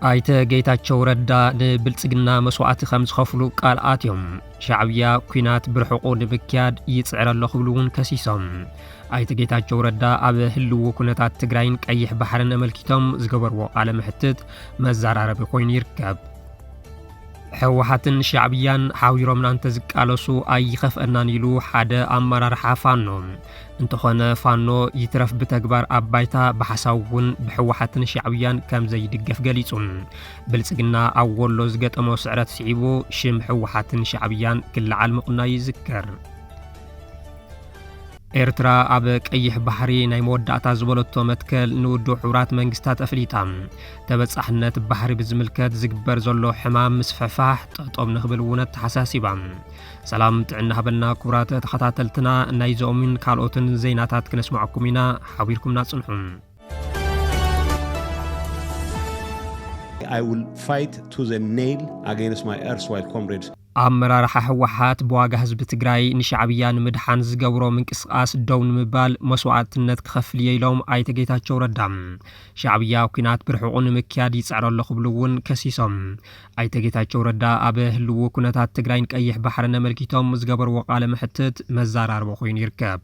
ኣይተ ጌታቸው ረዳ ንብልጽግና መስዋዕቲ ከም ዝኸፍሉ ቃል ኣትዮም ሻዕብያ ኩናት ብርሕቑ ንምክያድ ይጽዕረ ኣሎ ክብሉ እውን ከሲሶም ኣይተ ጌታቸው ረዳ ኣብ ህልው ኩነታት ትግራይን ቀይሕ ባሕርን ኣመልኪቶም ዝገበርዎ ቃለ መሕትት መዘራረቢ ኮይኑ ይርከብ። ሕወሓትን ሻዕብያን ሓዊሮምና እንተዝቃለሱ ኣይኸፍአናን ኢሉ ሓደ ኣመራርሓ ፋኖ። እንተኾነ ፋኖ ይትረፍ ብተግባር ኣብ ባይታ ብሓሳብ እውን ብሕወሓትን ሻዕብያን ከም ዘይድገፍ ገሊጹ። ብልጽግና ኣብ ወሎ ዝገጠሞ ስዕረት ስዒቡ ሽም ሕወሓትን ሻዕብያን ክለዓል ምቕናዩ ይዝከር። ኤርትራ ኣብ ቀይሕ ባሕሪ ናይ መወዳእታ ዝበለቶ መትከል ንውድብ ሕቡራት መንግስታት ኣፍሊጣ ተበጻሕነት ባሕሪ ብዝምልከት ዝግበር ዘሎ ሕማም ምስፍሕፋሕ ጠጦም ንክብል እውን ኣተሓሳሲባ። ሰላም ጥዕና ሃበልና ክቡራት ተኸታተልትና፣ ናይዞምን ካልኦትን ዜናታት ክነስማዕኩም ኢና፣ ሓቢርኩምና ጽንሑ። I will fight to the nail against my erstwhile comrades. ኣመራርሓ ህወሓት ብዋጋ ህዝቢ ትግራይ ንሻዕብያ ንምድሓን ዝገብሮ ምንቅስቓስ ደው ንምባል መስዋእትነት ክኸፍል እየ ኢሎም ኣይተ ጌታቸው ረዳ። ሻዕብያ ኩናት ብርሕቑ ንምክያድ ይፅዕር ኣሎ ክብሉ እውን ከሲሶም። ኣይተ ጌታቸው ረዳ ኣብ ህልዉ ኩነታት ትግራይን ቀይሕ ባሕርን ኣመልኪቶም ዝገበርዎ ቃለ መሕትት መዛራርቢ ኮይኑ ይርከብ።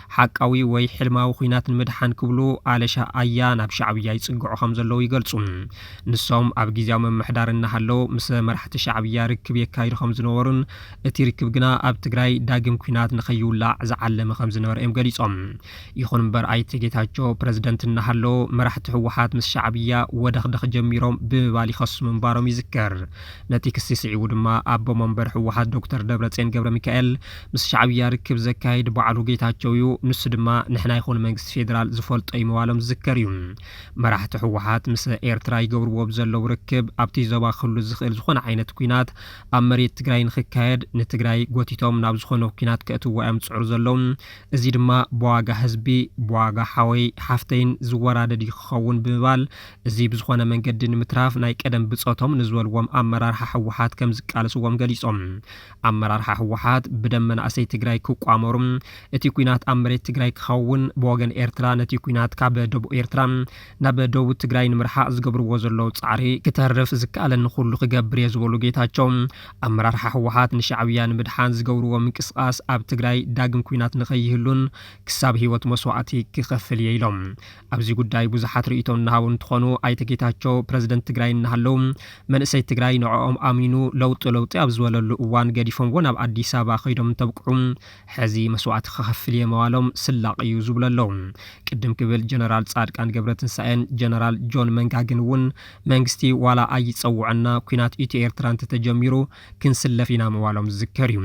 ሓቃዊ ወይ ሕልማዊ ኲናት ንምድሓን ክብሉ ኣለሻ ኣያ ናብ ሻዕብያ ይጽግዑ ከም ዘለዉ ይገልጹ። ንሶም ኣብ ግዝያዊ ምምሕዳር እናሃለዉ ምስ መራሕቲ ሻዕብያ ርክብ የካይዱ ከም ዝነበሩን እቲ ርክብ ግና ኣብ ትግራይ ዳግም ኲናት ንከይውላዕ ዝዓለመ ከም ዝነበረ እዮም ገሊጾም። ይኹን እምበር ኣይተ ጌታቸው ፕረዚደንት እናሃለዉ መራሕቲ ህወሓት ምስ ሻዕብያ ወደኽደኽ ጀሚሮም ብምባል ይኸሱ ምንባሮም ይዝከር። ነቲ ክሲ ስዒቡ ድማ ኣቦ መንበር ህወሓት ዶክተር ደብረጼን ገብረሚካኤል ምስ ሻዕብያ ርክብ ዘካይድ ባዕሉ ጌታቸው እዩ፣ ንሱ ድማ ንሕና ይኹን መንግስቲ ፌደራል ዝፈልጦ እዩ ምባሎም ዝዝከር እዩ። መራሕቲ ህወሓት ምስ ኤርትራ ይገብርዎ ብዘለው ርክብ ኣብቲ ዞባ ክህሉ ዝኽእል ዝኾነ ዓይነት ኲናት ኣብ መሬት ትግራይ ንኽካየድ ንትግራይ ጎቲቶም ናብ ዝኾነ ኲናት ከእትውዋ እዮም ዝፅዕሩ ዘለው። እዚ ድማ ብዋጋ ህዝቢ፣ ብዋጋ ሓወይ ሓፍተይን ዝወራደድ እዩ ክኸውን ብምባል እዚ ብዝኾነ መንገዲ ንምትራፍ ናይ ቀደም ብፆቶም ንዝበልዎም ኣመራርሓ ህወሓት ከምዝቃለስዎም ገሊፆም። ኣመራርሓ ህወሓት ብደም መናእሰይ ትግራይ ክቋመሩ እቲ ኩናት ኣብ መሬት ትግራይ ክኸውን ብወገን ኤርትራ ነቲ ኩናት ካብ ደቡብ ኤርትራ ናብ ደቡብ ትግራይ ንምርሓቕ ዝገብርዎ ዘለዉ ፃዕሪ ክተርፍ ዝከኣለኒ ኩሉ ክገብር እየ ዝበሉ ጌታቸው ኣመራርሓ ህወሓት ንሻዕብያ ንምድሓን ዝገብርዎ ምንቅስቓስ ኣብ ትግራይ ዳግም ኩናት ንከይህሉን ክሳብ ህይወት መስዋእቲ ክኸፍል እየ ኢሎም። ኣብዚ ጉዳይ ብዙሓት ርእይቶ እናሃቡ እንትኾኑ ኣይተ ጌታቸው ፕረዚደንት ትግራይ እናሃለው መንእሰይ ትግራይ ንዕኦም ኣሚኑ ለውጢ ለውጢ ኣብ ዝበለሉ እዋን ገዲፎምዎ ናብ ኣዲስ ኣበባ ከይዶም እንተብቅዑ ሕዚ መስዋእቲ ክኸፍል እየ መዋሎም ስላቕ እዩ ዝብሉ ኣለው። ቅድም ክብል ጀነራል ፃድቃን ገብረትንሳኤን ጀነራል ጆን መንጋግን እውን መንግስቲ ዋላ ኣይፀውዐና ኲናት ኢትዮ ኤርትራ እንተተጀሚሩ ክንስለፍ ኢና ምባሎም ዝዝከር እዩ።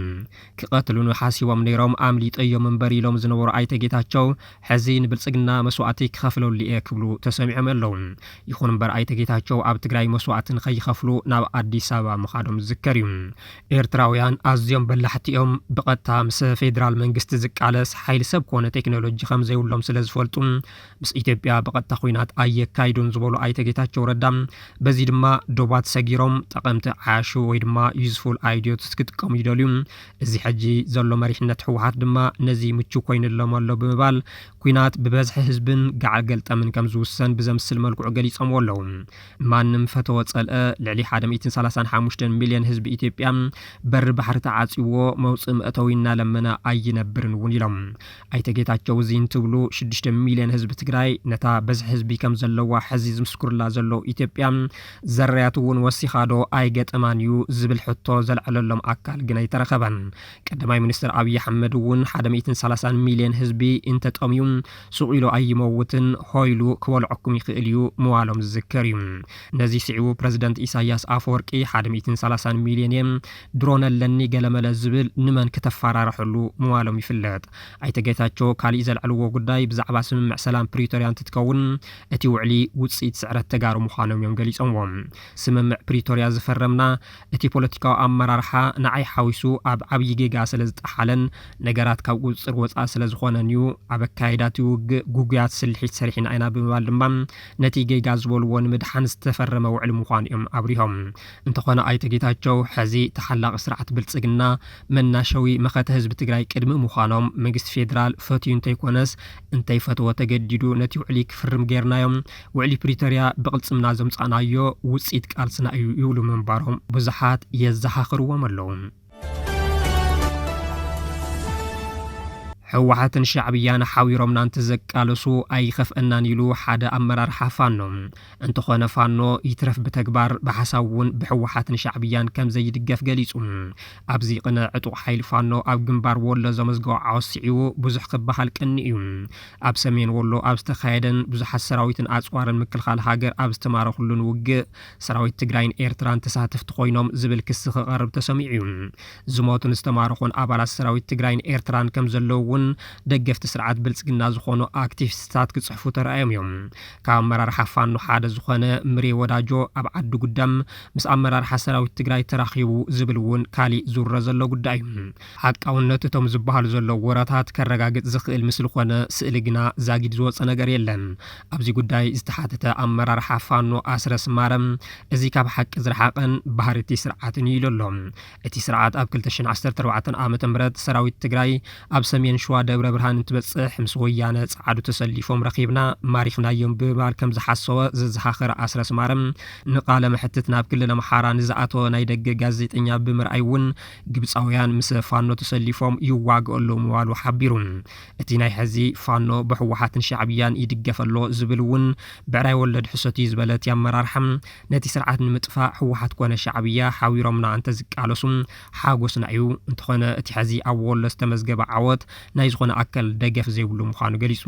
ክቐትሉኒ ሓሲቦም ነይሮም ኣምሊጠዮም እምበር ኢሎም ዝነበሩ ኣይተ ጌታቸው ሕዚ ንብልፅግና መስዋእቲ ክኸፍለሉ እየ ክብሉ ተሰሚዖም ኣለው። ይኹን እምበር ኣይተ ጌታቸው ኣብ ትግራይ መስዋእቲ ንከይኸፍሉ ናብ ኣዲስ ኣበባ ምኻዶም ዝዝከር እዩ። ኤርትራውያን ኣዝዮም በላሕቲ እዮም። ብቐጥታ ምስ ፌዴራል መንግስቲ ዝቃለስ ሓይሊ ሰብ ኮነ ቴክኖሎጂ ከምዘይብሎም ስለዝፈልጡ፣ ምስ ኢትዮጵያ ብቐጥታ ኹናት ኣየካይዱን ዝበሉ ኣይተ ጌታቸው ረዳ በዚ ድማ ዶባት ሰጊሮም ጠቐምቲ ዓያሹ ወይ ድማ ዩዝፉል ኣይዲዮትስ ክጥቀሙ ይደልዩ። እዚ ሕጂ ዘሎ መሪሕነት ህወሓት ድማ ነዚ ምቹው ኮይኑሎም ኣሎ ብምባል ኲናት ብበዝሒ ህዝብን ገዓል ገልጠምን ከም ዝውሰን ብዘምስል መልክዑ ገሊፆምዎ ኣለው። ማንም ፈተወ ፀልአ ልዕሊ ሓደ ሚእትን ሰላሳን ሓሙሽተን ሚሊየን ህዝቢ ኢትዮጵያ በሪ ባሕሪ ተዓፅዩዎ መውፅኢ መእተዊ እናለመነ ኣይነብርን እውን ኢሎም። ኣይተ ጌታቸው እዚ እንትብሉ ሽዱሽተ ሚልዮን ህዝቢ ትግራይ ነታ በዝሒ ህዝቢ ከም ዘለዋ ሕዚ ዝምስክሩላ ዘለዉ ኢትዮጵያ ዘራያት እውን ወሲኻ ዶ ኣይገጠማን እዩ ዝብል ሕቶ ዘልዐለሎም ኣካል ግን ኣይተረኸበን። ቀዳማይ ሚኒስትር ኣብዪ ኣሕመድ እውን ሓደ ሚእትን ሰላሳን ሚልዮን ህዝቢ እንተጠምዩ ሱቕ ኢሉ ኣይመውትን ሆይ ኢሉ ክበልዐኩም ይኽእል እዩ ምባሎም ዝዝከር እዩ። ነዚ ስዒቡ ፕረዚደንት ኢሳይያስ ኣፈወርቂ ሓደ ሚእትን ሰላሳን ሚልዮን እየ ድሮን ኣለኒ ገለመለ ዝብል ንመን ክተፋራርሐሉ ምዋሎም ይፍለጥ። ኣይተ ጌታቸው ካሊእ ዘልዐልዎ ጉዳይ ብዛዕባ ስምምዕ ሰላም ፕሪቶሪያ እንትትከውን እቲ ውዕሊ ውፅኢት ስዕረት ተጋሩ ምዃኖም እዮም ገሊፆምዎ። ስምምዕ ፕሪቶሪያ ዝፈረምና እቲ ፖለቲካዊ ኣመራርሓ ንዓይ ሓዊሱ ኣብ ዓብዪ ጌጋ ስለዝጠሓለን ነገራት ካብ ቁፅፅር ወፃኢ ስለዝኾነን እዩ። ኣብ ኣካይዳ እቲ ውግእ ግጉያት ስልሒት ሰሪሕና ኢና ብምባል ድማ ነቲ ጌጋ ዝበልዎ ንምድሓን ዝተፈረመ ውዕሊ ምዃኑ እዮም ኣብሪሆም። እንተኾነ ኣይተ ጌታቸው ሐዚ ተሓላቒ ስርዓት ብልፅግና መናሸዊ መኸተ ህዝቢ ትግራይ ቅድሚ ምዃኖም መንግስቲ ፌዴራል ፈትዩ እንተይኮነስ እንተይፈተወ ተገዲዱ ነቲ ውዕሊ ክፍርም ገይርናዮ ውዕሊ ፕሪቶሪያ ብቕልፅምና ዘምፃእናዮ ውፅኢት ቃልስና እዩ ይብሉ ምንባሮም ብዙሓት የዘኻኽርዎም ኣለው። ህወሓትን ሻዕብያን ሓዊሮምና እንተዘቃለሱ ኣይኸፍአናን ኢሉ ሓደ ኣመራርሓ ፋኖ። እንተኾነ ፋኖ ይትረፍ ብተግባር ብሓሳብ እውን ብህወሓትን ሻዕብያን ከም ዘይድገፍ ገሊጹ። ኣብዚ ቅነ ዕጡቕ ሓይሊ ፋኖ ኣብ ግንባር ወሎ ዘመዝገቦ ዓወት ስዒቡ ብዙሕ ክበሃል ቅኒ እዩ። ኣብ ሰሜን ወሎ ኣብ ዝተኻየደን ብዙሓት ሰራዊትን ኣጽዋርን ምክልኻል ሃገር ኣብ ዝተማረኹሉን ውግእ ሰራዊት ትግራይን ኤርትራን ተሳተፍቲ ኮይኖም ዝብል ክሲ ክቐርብ ተሰሚዑ እዩ። ዝሞቱን ዝተማረኹን ኣባላት ሰራዊት ትግራይን ኤርትራን ከምዘለዉ እውን ደገፍቲ ስርዓት ብልፅግና ዝኾኑ ኣክቲቪስትታት ክፅሕፉ ተራእዮም እዮም። ካብ ኣመራርሓ ፋኖ ሓደ ዝኾነ ምሬ ወዳጆ ኣብ ዓዲ ጉደም ምስ ኣመራርሓ ሰራዊት ትግራይ ተራኺቡ ዝብል እውን ካሊእ ዝውረ ዘሎ ጉዳይ እዩ። ሓቃውነት እቶም ዝበሃሉ ዘለዉ ወረታት ከረጋግጽ ዝኽእል ምስሊ ኮነ ስእሊ ግና ዛጊድ ዝወጸ ነገር የለን። ኣብዚ ጉዳይ ዝተሓተተ ኣመራርሓ ፋኖ ኣስረስ ማረ፣ እዚ ካብ ሓቂ ዝረሓቐን ባህሪ እቲ ስርዓትን እዩ ኢሉ ኣሎ። እቲ ስርዓት ኣብ ክልተ ሽሕን ዓሰርተ ኣርባዕተን ዓመተ ምህረት ሰራዊት ትግራይ ኣብ ሰሜን ሸዋ ደብረ ብርሃን እንትበጽሕ ምስ ወያነ ጸዓዱ ተሰሊፎም ረኺብና ማሪኽናዮም ብምባል ከም ዝሓሰወ ዘዘኻኸረ ኣስረስ ማረ፣ ንቃለ መሕትት ናብ ክልል ኣምሓራ ንዝኣተወ ናይ ደገ ጋዜጠኛ ብምርኣይ እውን ግብፃውያን ምስ ፋኖ ተሰሊፎም ይዋግኦ ኣለዉ ምባሉ ሓቢሩ። እቲ ናይ ሐዚ ፋኖ ብሕወሓትን ሻዕብያን ይድገፍ ኣሎ ዝብል እውን ብዕራይ ወለድ ሕሶት እዩ ዝበለ እቲ ኣመራርሓ፣ ነቲ ስርዓት ንምጥፋእ ሕወሓት ኮነ ሻዕብያ ሓቢሮምና እንተዝቃለሱ ሓጎስና እዩ። እንተኾነ እቲ ሐዚ ኣብ ወሎ ዝተመዝገበ ዓወት ናይ ዝኾነ ኣከል ደገፍ ዘይብሉ ምዃኑ ገሊፁ።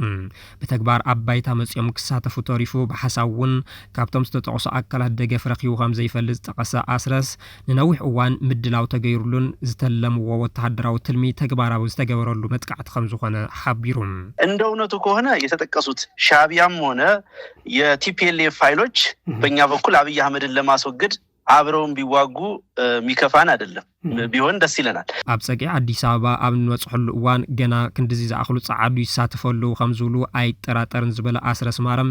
ብተግባር ኣብ ባይታ መፂኦም ክሳተፉ ተሪፉ ብሓሳብ እውን ካብቶም ዝተጠቕሱ ኣካላት ደገፍ ረኺቡ ከምዘይፈልጥ ዝጠቐሰ ኣስረስ፣ ንነዊሕ እዋን ምድላው ተገይሩሉን ዝተለምዎ ወተሃደራዊ ትልሚ ተግባራዊ ዝተገበረሉ መጥቃዕቲ ከምዝኾነ ሓቢሩ። እንደ እውነቱ ከሆነ የተጠቀሱት ሻዕቢያም ሆነ የቲፒኤልኤፍ ሀይሎች በኛ በኩል አብይ አህመድን ለማስወገድ አብረውን ቢዋጉ ሚከፋን አይደለም ቢሆን ደስ ይለናል። ኣብ ጸግዒ ኣዲስ ኣበባ ኣብ እንበጽሐሉ እዋን ገና ክንድዚ ዝኣኽሉ ጸዓዱ ይሳተፉ ኣለዉ ከምዝብሉ ኣይጠራጠርን ዝበለ ኣስረስ ማረም፣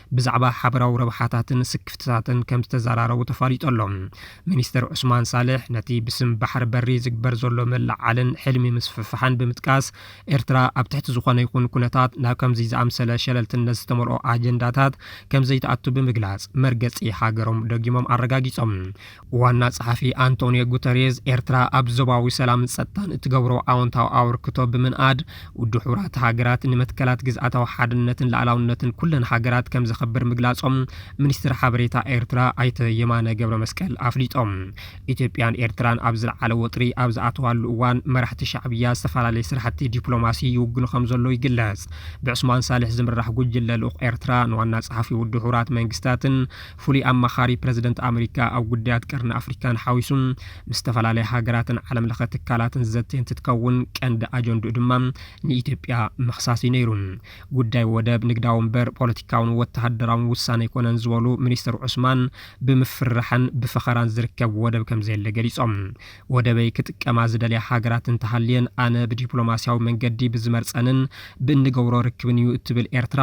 ብዛዕባ ሓበራዊ ረብሓታትን ስክፍትታትን ከም ዝተዘራረቡ ተፋሊጡ ኣሎ። ሚኒስተር ዑስማን ሳልሕ ነቲ ብስም ባሕሪ በሪ ዝግበር ዘሎ ምልዕዓልን ሕልሚ ምስፍሕፋሕን ብምጥቃስ፣ ኤርትራ ኣብ ትሕቲ ዝኾነ ይኹን ኩነታት ናብ ከምዚ ዝኣምሰለ ሸለልትነት ዝተመልኦ ኣጀንዳታት ከም ዘይትኣቱ ብምግላጽ፣ መርገጺ ሃገሮም ደጊሞም ኣረጋጊጾም። ዋና ጸሓፊ ኣንቶንዮ ጉተሬዝ ኤርትራ ኣብ ዞባዊ ሰላምን ጸጥታን እትገብሮ ኣወንታዊ ኣበርክቶ ብምንኣድ ውድብ ሕቡራት ሃገራት ንመትከላት ግዝኣታዊ ሓድነትን ላዕላውነትን ኩለን ሃገራት ከም ዘኸብር ምግላጾም ሚኒስትር ሓበሬታ ኤርትራ ኣይተ የማነ ገብረ መስቀል ኣፍሊጦም። ኢትዮጵያን ኤርትራን ኣብ ዝለዓለ ወጥሪ ኣብ ዝኣተዋሉ እዋን መራሕቲ ሻዕብያ ዝተፈላለየ ስራሕቲ ዲፕሎማሲ ይውግኑ ከም ዘሎ ይግለጽ። ብዑስማን ሳልሕ ዝምራሕ ጉጅለ ልኡኽ ኤርትራ ንዋና ጸሓፊ ውድብ ሕቡራት መንግስታትን ፍሉይ ኣማኻሪ ፕረዚደንት ኣመሪካ ኣብ ጉዳያት ቀርኒ ኣፍሪካን ሓዊሱ ምስ ዝተፈላለያ ሃገራትን ዓለም ለኸ ትካላትን ዝዘቲ እንትትከውን ቀንዲ ኣጀንድኡ ድማ ንኢትዮጵያ ምኽሳስ እዩ ነይሩ። ጉዳይ ወደብ ንግዳዊ እምበር ፖለቲካውን ወተሃደራውን ውሳነ ኣይኮነን ዝበሉ ሚኒስትር ዑስማን ብምፍርራሕን ብፈኸራን ዝርከብ ወደብ ከምዘየለ ገሊፆም። ወደበይ ክጥቀማ ዝደልያ ሃገራት እንተሃልየን ኣነ ብዲፕሎማሲያዊ መንገዲ ብዝመርፀንን ብእንገብሮ ርክብን እዩ እትብል ኤርትራ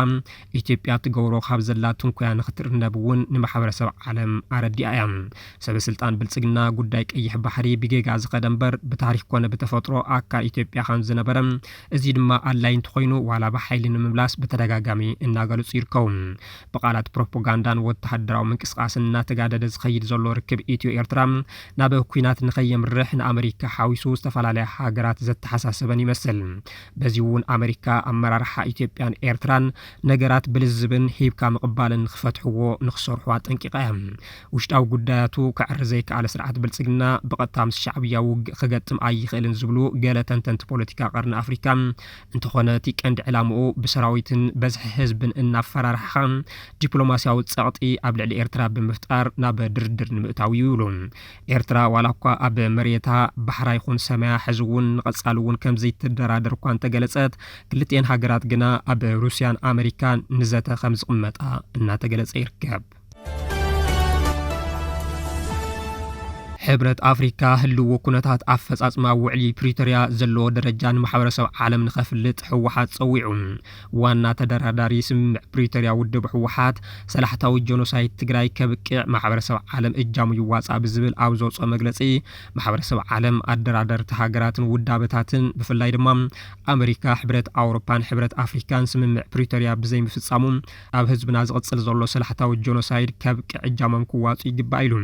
ኢትዮጵያ ትገብሮ ካብ ዘላ ትንኮያ ንክትርነብ እውን ንማሕበረሰብ ዓለም ኣረዲኣ እያ። ሰበስልጣን ብልፅግና ጉዳይ ቀይሕ ባሕሪ ብጌጋ ዝኸደ እምበር ብታሪክ ኮነ ብተፈጥሮ ኣካል ኢትዮጵያ ከም ዝነበረ እዙይ ድማ ኣድላይ እንተኾይኑ ዋላ ብሓይሊ ንምምላስ ብተደጋጋሚ እናገለፁ ይርከቡ። ብቃላት ፕሮፖጋንዳን ወታሃደራዊ ምንቅስቃስን እናተጋደደ ዝኸይድ ዘሎ ርክብ ኢትዮ ኤርትራ ናብ ኲናት ንከየምርሕ ንኣመሪካ ሓዊሱ ዝተፈላለያ ሃገራት ዘተሓሳሰበን ይመስል። በዚ'ውን ኣመሪካ ኣመራርሓ ኢትዮጵያን ኤርትራን ነገራት ብልዝብን ሂብካ ምቕባልን ንኽፈትሕዎ ንኽሰርሑ ኣጠንቂቓ እያ። ውሽጣዊ ጉዳያቱ ከዐሪ ዘይከኣለ ስርዓት ብልጽግና ብቐጥታ ምስ ሻዕብያ ውግእ ክገጥም ኣይኽእልን ዝብሉ ገለ ተንተንቲ ፖለቲካ ቀርኒ ኣፍሪካ፣ እንተኾነ እቲ ቀንዲ ዕላምኡ ብሰራዊትን በዝሒ ህዝብን እናፈራርሕኻ ዲፕሎማስያዊ ጸቕጢ ኣብ ልዕሊ ኤርትራ ብምፍጣር ናብ ድርድር ንምእታው እዩ ይብሉ። ኤርትራ ዋላኳ ኣብ መሬታ፣ ባሕራ ይኹን ሰማያ ሕዚ'ውን ንቐጻሊ'ውን ከምዘይትደራደር እኳ እንተገለጸት፣ ክልቲኤን ሃገራት ግና ኣብ ሩስያን ኣመሪካን ንዘተ ከምዝቕመጣ እናተገለጸ ይርከብ። ሕብረት ኣፍሪካ ህልዎ ኩነታት ኣፈፃፅማ ውዕሊ ፕሪቶርያ ዘለዎ ደረጃ ንማሕበረሰብ ዓለም ንኸፍልጥ ህወሓት ፀዊዑ። ዋና ተደራዳሪ ስምምዕ ፕሪቶርያ ውድብ ህወሓት ሰላሕታዊ ጀኖሳይድ ትግራይ ከብቅዕ ማሕበረሰብ ዓለም እጃሙ ይዋፃእ ብዝብል ኣብ ዘውፅኦ መግለፂ ማሕበረሰብ ዓለም፣ ኣደራደርቲ ሃገራትን ውዳበታትን ብፍላይ ድማ ኣመሪካ፣ ሕብረት ኣውሮፓን ሕብረት ኣፍሪካን ስምምዕ ፕሪቶርያ ብዘይምፍፃሙ ኣብ ህዝብና ዝቕፅል ዘሎ ሰላሕታዊ ጀኖሳይድ ከብቅዕ እጃሞም ክዋፅኡ ይግባእ ኢሉ።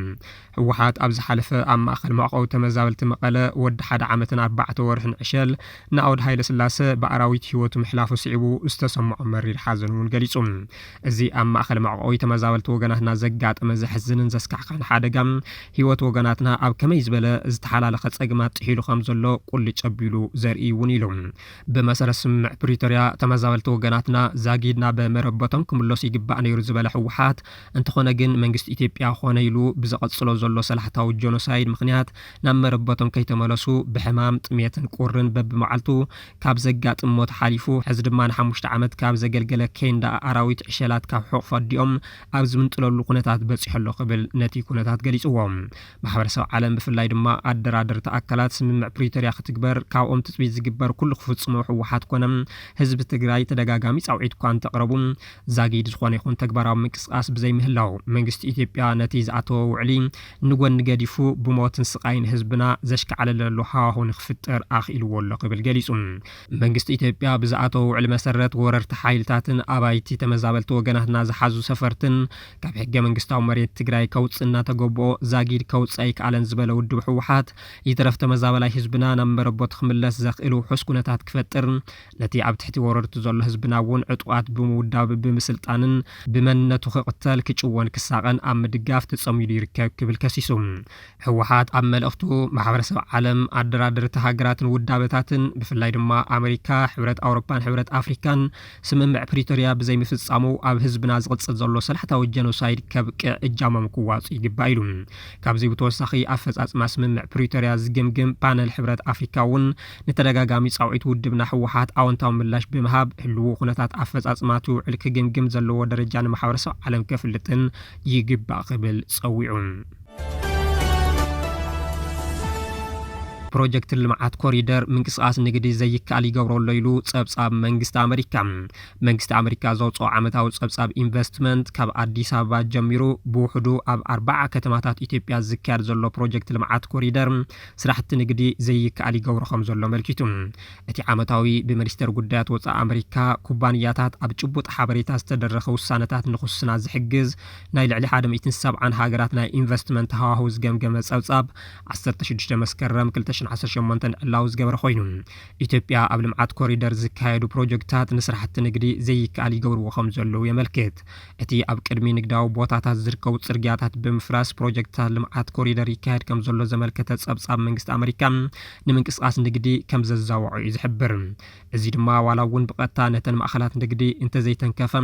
ህወሓት ኣብ ዝሓለፈ ኣብ ማእኸል መዕቆቢ ተመዛበልቲ መቐለ ወዲ ሓደ ዓመትን ኣርባዕተ ወርሕን ዕሸል ናኦድ ሃይለስላሰ ብኣራዊት ህይወቱ ምሕላፉ ስዒቡ ዝተሰምዖ መሪር ሓዘን እውን ገሊፁ። እዚ ኣብ ማእኸል መዕቆቢ ተመዛበልቲ ወገናትና ዘጋጠመ ዘሕዝንን ዘስካሕኽሕን ሓደጋ ህይወት ወገናትና ኣብ ከመይ ዝበለ ዝተሓላለኸ ፀገማት ጥሒሉ ከምዘሎ ቁልጭ ኣቢሉ ዘርኢ እዩ እውን ኢሉ። ብመሰረት ስምምዕ ፕሪቶርያ ተመዛበልቲ ወገናትና ዛጊድ ናብ መረበቶም ክምለሱ ይግባእ ነይሩ ዝበለ ህወሓት፣ እንተኾነ ግን መንግስቲ ኢትዮጵያ ኮነ ኢሉ ብዘቐጽሎ ዘሎ ሰላሕታዊ ጆኖሳይድ ምኽንያት ናብ መረበቶም ከይተመለሱ ብሕማም፣ ጥሜትን ቁርን በብመዓልቱ ካብ ዘጋጥም ሞት ሓሊፉ ሕዚ ድማ ንሓሙሽተ ዓመት ካብ ዘገልገለ ኬንዳ ኣራዊት ዕሸላት ካብ ሕቑፊ ኣዲኦም ኣብ ዝምንጥለሉ ኩነታት በጺሑ ኣሎ ክብል ነቲ ኩነታት ገሊጽዎ። ማሕበረሰብ ዓለም ብፍላይ ድማ ኣደራደርቲ ኣካላት ስምምዕ ፕሪቶርያ ክትግበር ካብኦም ትጽቢት ዝግበር ኩሉ ክፍጽሙ ህወሓት ኮነ ህዝቢ ትግራይ ተደጋጋሚ ጻውዒት'ኳ እንተቕረቡ ዛጊድ ዝኾነ ይኹን ተግባራዊ ምንቅስቓስ ብዘይምህላዉ፣ መንግስቲ ኢትዮጵያ ነቲ ዝኣተዎ ውዕሊ ንጎኒ ገዲፉ፣ ብሞትን ስቓይን ህዝብና ዘሽካዕልለሉ ሃዋሁ ንክፍጠር ኣኽኢልዎ ኣሎ ክብል ገሊጹ። መንግስቲ ኢትዮጵያ ብዝኣተዎ ውዕሊ መሰረት፣ ወረርቲ ሓይልታትን ኣባይቲ ተመዛበልቲ ወገናትና ዝሓዙ ሰፈርትን ካብ ሕገ መንግስታዊ መሬት ትግራይ ከውጽእ እናተገብኦ ዛጊድ ከውጽእ ኣይክኣለን ዝበለ ውድብ ህወሓት፣ ይትረፍ ተመዛበላይ ህዝብና ናብ መረበቱ ክምለስ ዘኽእል ውሑስ ኩነታት ክፈጥር ነቲ ኣብ ትሕቲ ወረርቱ ዘሎ ህዝብና እውን ዕጡቓት ብምውዳብ፣ ብምስልጣንን ብመንነቱ ክቕተል፣ ክጭወን ክሳቐን ኣብ ምድጋፍ ተጸሚዱ ይርከብ ክብል ከሲሱ። ህወሓት ኣብ መልእኽቱ፣ ማሕበረሰብ ዓለም፣ ኣደራደርቲ ሃገራትን ውዳበታትን ብፍላይ ድማ ኣመሪካ፣ ሕብረት ኣውሮፓን ሕብረት ኣፍሪካን ስምምዕ ፕሪቶርያ ብዘይምፍጻሙ ኣብ ህዝብና ዝቕጽል ዘሎ ሰላሕታዊ ጀኖሳይድ ከብቅዕ እጃሞም ክዋጽኡ ይግባእ ኢሉ። ካብዚ ብተወሳኺ ኣፈጻጽማ ስምምዕ ፕሪቶርያ ዝግምግም ፓነል ሕብረት ኣፍሪካ እውን ንተደጋጋሚ ፃውዒት ውድብና ህወሓት ኣወንታዊ ምላሽ ብምሃብ ህልዉ ኩነታት ኣፈፃፅማ እቲ ውዕል ክግምግም ዘለዎ ደረጃ ንማሕበረሰብ ዓለም ከፍልጥን ይግባእ ክብል ፀዊዑ። ፕሮጀክት ልምዓት ኮሪደር ምንቅስቓስ ንግዲ ዘይከኣል ይገብሮ ኣሎ ኢሉ ፀብፃብ መንግስቲ ኣመሪካ። መንግስቲ ኣመሪካ ዘውፅኦ ዓመታዊ ፀብፃብ ኢንቨስትመንት ካብ ኣዲስ ኣበባ ጀሚሩ ብውሕዱ ኣብ ኣርባዓ ከተማታት ኢትዮጵያ ዝካየድ ዘሎ ፕሮጀክት ልምዓት ኮሪደር ስራሕቲ ንግዲ ዘይከኣል ይገብሮ ከምዘሎ ኣመልኪቱ። እቲ ዓመታዊ ብመኒስተር ጉዳያት ወፃኢ ኣመሪካ ኩባንያታት ኣብ ጭቡጥ ሓበሬታ ዝተደረኸ ውሳነታት ንክውስና ዝሕግዝ ናይ ልዕሊ ሓደ ሚእትን ሰብዓን ሃገራት ናይ ኢንቨስትመንት ሃዋህው ዝገምገመ ፀብፃብ ዓሰርተ ሽዱሽተ መስከረም ክልተ ሽሕን ዓሰርተ ሸሞንተን ዕላዊ ዝገበረ ኮይኑ ኢትዮጵያ ኣብ ልምዓት ኮሪደር ዝካየዱ ፕሮጀክትታት ንስራሕቲ ንግዲ ዘይከኣል ይገብርዎ ከምዘለዉ የመልክት። እቲ ኣብ ቅድሚ ንግዳዊ ቦታታት ዝርከቡ ጽርግያታት ብምፍራስ ፕሮጀክትታት ልምዓት ኮሪደር ይካየድ ከምዘሎ ዘመልከተ ጸብጻብ መንግስቲ ኣመሪካ ንምንቅስቓስ ንግዲ ከምዘዛወዖ እዩ ዝሕብር። እዚ ድማ ዋላ'ውን ብቐጥታ ነተን ማእኸላት ንግዲ እንተዘይተንከፈ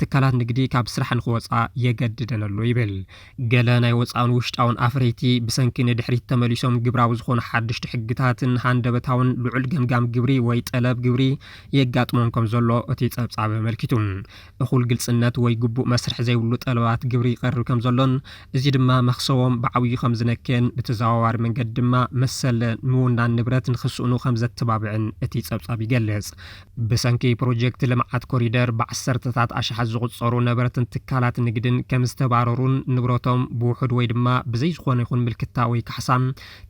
ትካላት ንግዲ ካብ ስራሕ ንኽወጽኣ የገድደን ኣሎ ይብል። ገለ ናይ ወጻእን ውሽጣውን ኣፍረይቲ ብሰንኪ ንድሕሪት ተመሊሶም ግብራዊ ዝኾኑ ሓደሽቲ ሕግታትን ሃንደበታውን ልዑል ገምጋም ግብሪ ወይ ጠለብ ግብሪ የጋጥሞም ከምዘሎ እቲ ጸብጻብ ኣመልኪቱ። እኹል ግልፅነት ወይ ግቡእ መስርሕ ዘይብሉ ጠለባት ግብሪ ይቐርብ ከምዘሎን እዚ ድማ መኽሰቦም ብዓብዩ ከምዝነከየን ብተዘዋዋሪ መንገዲ ድማ መሰል ምውናን ንብረት ንክስእኑ ከምዘተባብዕን እቲ ፀብፃብ ይገልፅ። ብሰንኪ ፕሮጀክት ልምዓት ኮሪደር ብዓሰርተታት ኣሽሓት ዝቑፀሩ ነበርትን ትካላት ንግድን ከምዝተባረሩን ንብረቶም ብውሑድ ወይ ድማ ብዘይዝኾነ ይኹን ምልክታ ወይ ካሕሳ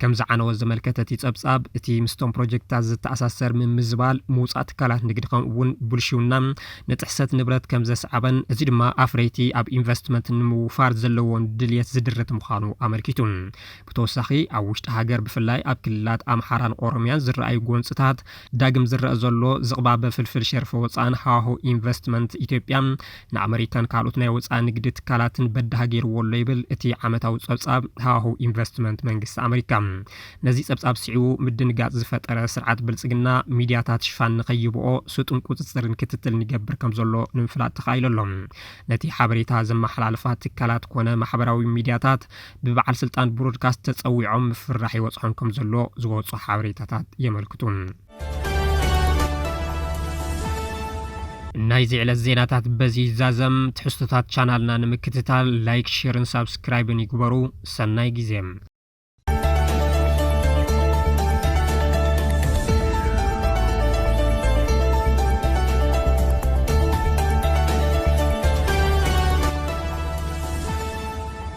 ከም ዝዓነወ ዘመልከተ እቲ ጸብጻብ፣ እቲ ምስቶም ፕሮጀክትታት ዝተኣሳሰር ምምዝባል ምውጻእ ትካላት ንግዲ ከምኡ'ውን ብልሽውና ንጥሕሰት ንብረት ከም ዘስዓበን እዚ ድማ ኣፍረይቲ ኣብ ኢንቨስትመንት ንምውፋር ዘለዎም ድልየት ዝድርት ምዃኑ ኣመልኪቱ። ብተወሳኺ ኣብ ውሽጢ ሃገር ብፍላይ ኣብ ክልላት ኣምሓራን ኦሮምያን ዝረኣዩ ጎንጽታት ዳግም ዝረኣ ዘሎ ዝቕባበ ፍልፍል ሸርፊ ወጻእን ሃዋሁ ኢንቨስትመንት ኢትዮጵያ ንኣመሪካን ካልኦት ናይ ወጻኢ ንግዲ ትካላትን በዳሂ ገይርዎ ኣሎ ይብል እቲ ዓመታዊ ጸብጻብ ሃዋህው ኢንቨስትመንት መንግስቲ ኣመሪካ። ነዚ ጸብጻብ ስዒቡ ምድንጋጽ ዝፈጠረ ስርዓት ብልጽግና፣ ሚድያታት ሽፋን ንከይህብኦ ስጡም ቁጽጽርን ክትትልን ይገብር ከምዘሎ ንምፍላጥ ተኻኢሉ ኣሎ። ነቲ ሓበሬታ ዘመሓላልፋ ትካላት ኮነ ማሕበራዊ ሚድያታት ብበዓል ስልጣን ብሮድካስት ተጸዊዖም ምፍርራሕ ይበጽሖም ከምዘሎ ዝወጹ ሓበሬታታት የመልክቱ። ናይዚ ዕለት ዜናታት በዚ ይዛዘም። ትሕዝቶታት ቻናልና ንምክትታል ላይክ፣ ሼርን ሳብስክራይብን ይግበሩ። ሰናይ ግዜ